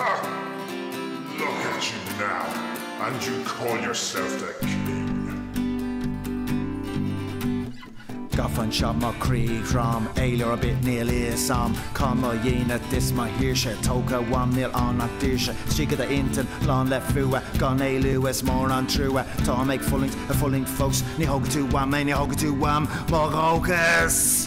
Huh! Look at you now and you call yourself the king! Gafa anseo mo chroí throm, éalú ar bith níl fhios a'm cá mo dhínit is mo shaoirse, tógtha uaim níl ann ach daoirse, síoga do intinn lán le fuath, gan éalú is mór an trua, táim ag fulaingt, a' fulaingt fós, ní thógfaidh tú uaim é, ní thógfaidh tú uaim mo dhóchas!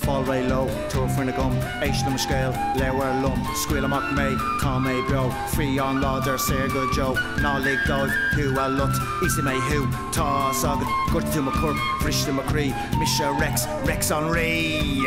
Fáil réidh leo, tabhair faoina gcoim, Éist le mo scéal, labhair liom, Scaoil amach mé, tá mé beo, Fiáin láidir, saor go deo, Ná lig dóibh thú a lot, Íosfaidh mé thú, tá's agat, Ghortaigh tú mo chorp, bhris tú mo chroí, Mise Rex, Rex an Rí!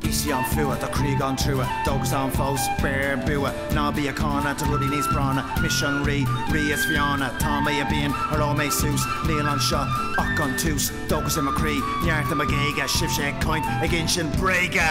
Bhí sí an fuath, do chroí gan trua, dóchas ann fós, beir bua, ná bí ag cáineadh, tá rudaí níos práinne, mise an rí, rí is fiáine, tá mé i bpian, éireoidh mé suas, níl anseo ach an tús, dóchas i mo chroí, neart i mo ghéaga, sibhse ag caint, ag insint bréaga!